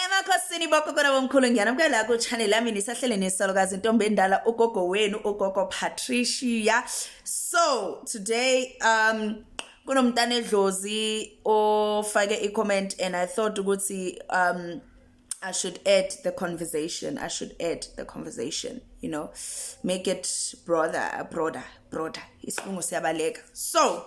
emakhosini bogogola bomkhulu ngiyanamukela kuchannel yami nisahlele nesalukazi intombi endala ugogo wenu ugogo patricia so today um kunomntana edlozi ofake i-comment and i thought ukuthi um I should add the conversation. I should add the conversation, you know, make it broader, broader, broader. Isilungu siyabaleka. So,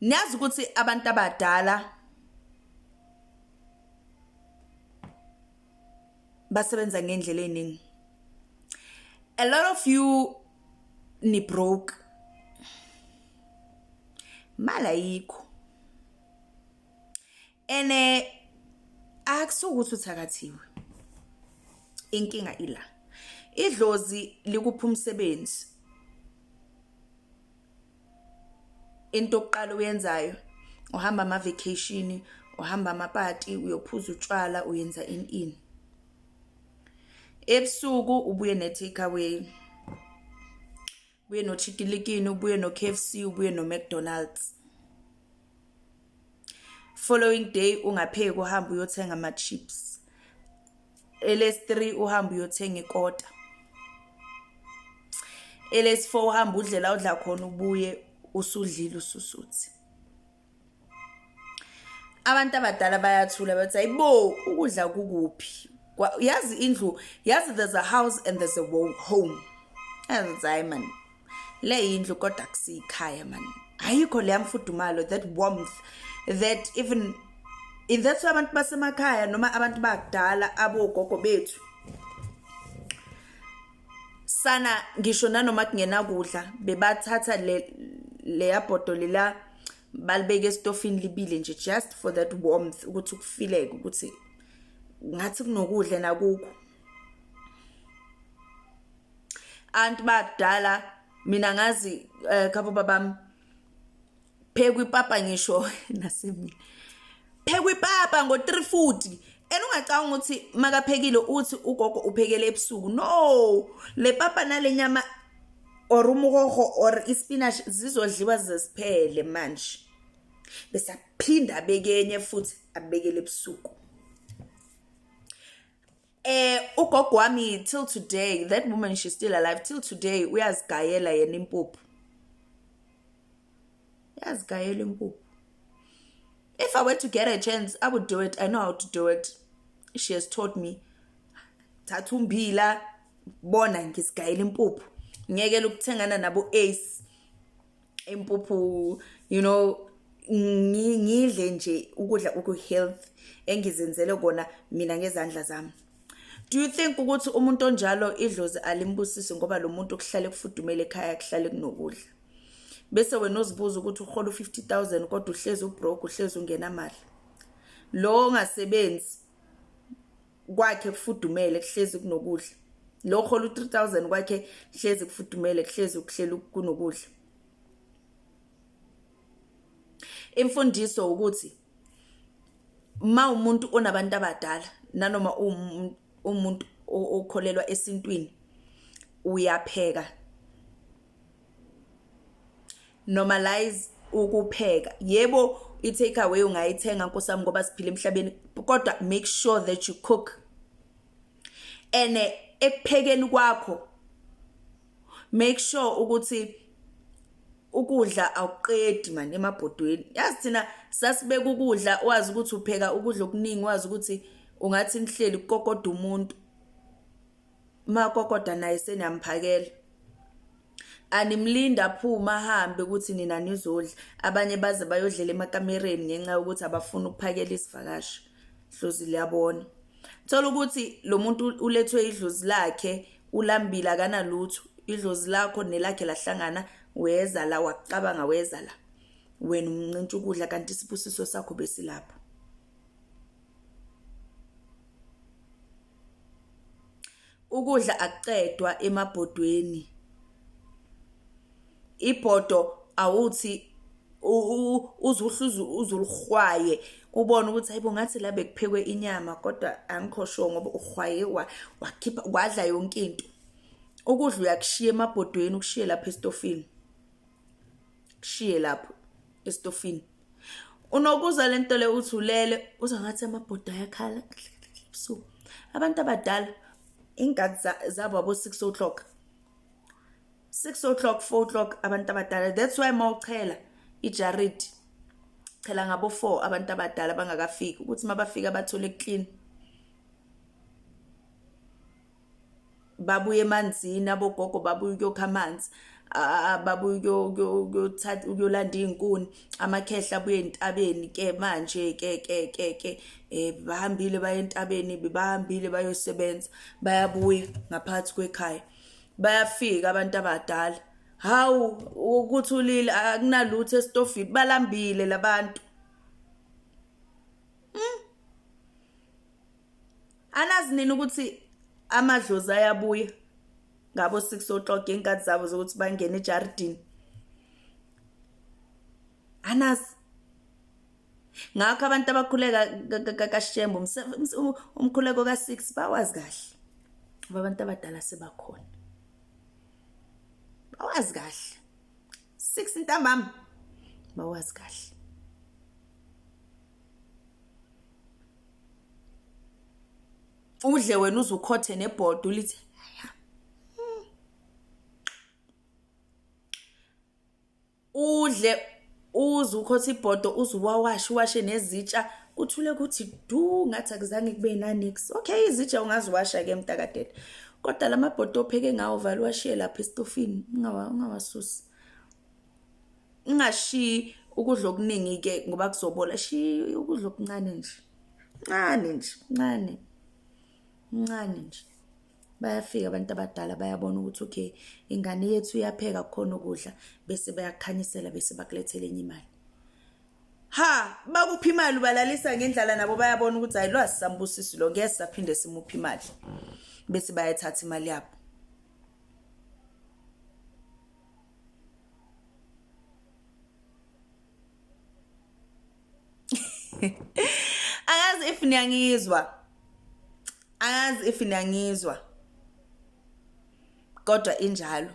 niyazi ukuthi abantu abadala basebenza ngendlela eningi a lot of you ni broke mala yikho and eh, akusuke ukuthi uthakathiwe inkinga ila idlozi likupha umsebenzi into okuqala uyenzayo uhamba ama vacation uhamba amapati uyophuza utshwala uyenza in in ebusuku ubuye ne take away ubuye nochikilikini ubuye no-kfc ubuye no-mcdonalds following day ungapheki uhambe uyothenga ama-chips elesi-three uhambe uyothenga ikota elesi-four uhambe udlela udla khona ubuye usudlile ususuthi abantu abadala bayathula bathi ayibo ukudla kukuphi yazi indlu yazi there's a house and there's a home yazi hayi man le yindlu kodwa kusiyikhaya man ayikho leya mfudumalo that warmth that even in that way abantu basemakhaya noma abantu bakudala abogogo bethu sana ngisho nanoma kungenakudla bebathatha le leya bhodoli la balibeke esitofini libile nje just for that warmth ukuthi ukufileke ukuthi ngathi kunokudla nakukho anti bakudala mina ngazi eh, khabo babami phekwa ipapa ngisho nasemini phekwa ipapa ngo-three futhi and ungacabanga ukuthi makaphekile uthi ugogo uphekele ebusuku no le papa nale nyama or umuhoho or ispinach zizodliwa zesiphele manje bese aphinda abekenye futhi abekele ebusuku Eh ugogo wami till today that woman she's still alive till today uyazigayela yena impuphu. Uyazigayela impuphu. If I were to get a chance I would do it. I know how to do it. She has taught me. Thatha umbila bona ngisigayela impuphu. Ngiyekela ukuthengana nabo ace impuphu you know ngidle nje ukudla okuhealth engizenzele kona mina ngezandla zami do you think ukuthi umuntu onjalo idlozi alimbusisi ngoba lo muntu kuhlale kufudumele ekhaya kuhlale kunokudla bese wena uzibuza ukuthi uhola u-50 000 kodwa uhlezi ubroke uhlezi ungenamali lo ongasebenzi kwakhe kufudumele kuhlezi kunokudla lo hola u-3000 kwakhe kuhlezi kufudumele kuhlezi ukuhlela kunokudla imfundiso ukuthi ma umuntu onabantu abadala nanoma umuntu okholelwa esintwini uyapheka normalize ukupheka yebo i-take away ungayithenga nkosami ngoba siphila emhlabeni kodwa make sure that you cook and eh, ekuphekeni kwakho make sure ukuthi ukudla awuqedi manje emabhodweni yazi thina sasibeka ukudla wazi ukuthi upheka ukudla okuningi wazi ukuthi ungathi nihleli kukokoda umuntu umakokoda naye seniyamphakela animlindi aphume ahambe ukuthi nina nizodla abanye baze bayodlela emakamereni ngenxa yokuthi abafuni ukuphakela isivakashi dlozi liyabona thola ukuthi lo muntu ulethwe idlozi lakhe ulambile akanalutho idlozi lakho nelakhe lahlangana weza la wacabanga weza la wena umncintsha ukudla kanti isibusiso sakho besilapho ukudla akuqedwa emabhodweni ibhodo awuthi uzuhluze uzulihwaye ubone ukuthi hayibo ngathi la bekuphekwe inyama kodwa angikho sure ngoba uhwaye wakhipha wadla yonke into ukudla uyakushiya emabhodweni ukushiye lapha estofini kushiye lapho estofini Unokuza le nto le uthi ulele uza ngathi amabhoda ayakhala ebusuku. Abantu abadala ingadi zabo abo 6 o'clock. 6 o'clock 4 o'clock abantu abadala that's why mawuchela ijarid chela ngabo 4 abantu abadala bangakafiki ukuthi mabafika bathole clean babuye emanzini abogogo babuye ukuyokha amanzi babuye ukuyothatha ukuyolanda iy'nkuni amakhehla abuye entabeni ke manje ke ke ke ke um bahambile baye entabeni bahambile bayosebenza bayabuya ngaphakathi kwekhaya bayafika abantu abadala hawu ukuthi ulile akunalutho esitofini balambile labantu anazi nini ukuthi amadlozi ayabuya ngabo 6 o'clock inkathi zabo zokuthi bangene ejardini anazi ngakho abantu abakhuleka kashembo umkhuleko ka6 bawazi kahle ngoba abantu abadala sebakhona bawazi kahle 6 ntambama bawazi kahle udle wena uze ukhothe nebhodi ulithi hmm. udle uze ukhothe ibhodo uze uwawashe uwashe nezitsha kuthule kuthi du ngathi akuzange kube nanix okay izitsha ungaziwasha ke mntakadede kodwa la mabhodo opheke ngawo vale uwashiye lapha esitofini ungawasusi ingashiyi ukudla okuningi-ke ngoba kuzobola shiya ukudla okuncane nje ncane nje ncane ncane nje bayafika abantu abadala bayabona ukuthi okay ingane yethu iyapheka kukhona ukudla bese bayakukhanyisela bese bakulethela enye imali ha bakuphi imali ubalalisa ngendlala nabo bayabona ukuthi hayi lwazi sambusisi lo ngeke saphinde simuphi imali bese bayathatha imali yabo angazi if niyangizwa angazi if niyangizwa kodwa injalo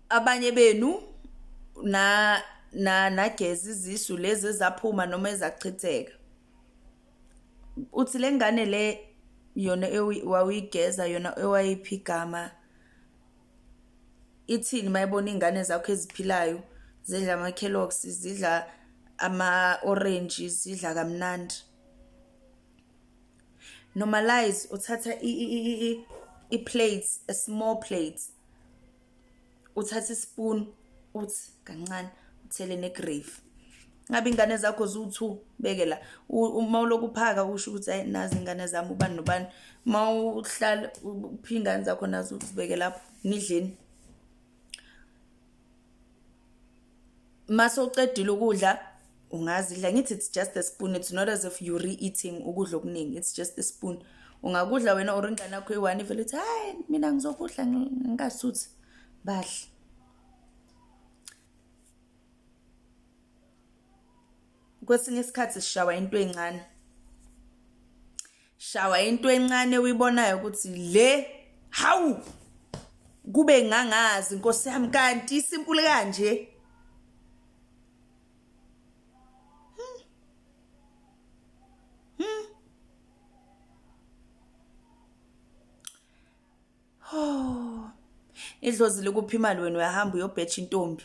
abanye benu na na nageza izisu lezi ezaphuma noma ezachitheka uthi le ngane le yona wawuyigeza yona ewayiphi igama ithini uma ibona iy'ngane zakho eziphilayo zidla ama-kellogs zidla ama-orenji zidla kamnandi normalize uthatha i-plates a small plate uthatha ispoon uthi kancane uthele negrave ngabe ingane zakho ziwu-two beke la uma uloku uphaka usho ukuthi ayi nazi ingane zami ubani nobani uma uhlala uphi ingane zakho nazi uzibeke lapho nidleni mase ucedile ukudla ungazidla ngithi it's just a spoon it's not as if you re-eating ukudla okuningi it's just a spoon ungakudla wena or ingane yakho eyi-one ivele uthi hayi mina ngizokudla ngingasuthi badle kwesinye isikhathi sishawa into encane shawa into encane uyibonayo ukuthi le hawu kube ngangazi nkosi yami kanti isimpule kanje Oh. Idlozi lokuphimali wena uyahamba uyobhecha intombi.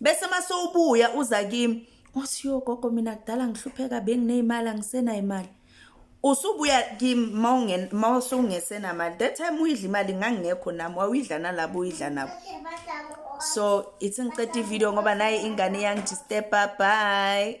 bese masowubuya uza kimi othi yo gogo mina kudala ngihlupheka bengineyimali angisenayo imali usubuya kimi mawungen mawusungese mali that time uyidla imali ngangingekho nami wawuyidla nalabo uyidla nabo so ithi ngiqeda ivideo ngoba naye ingane iyangidisturba bye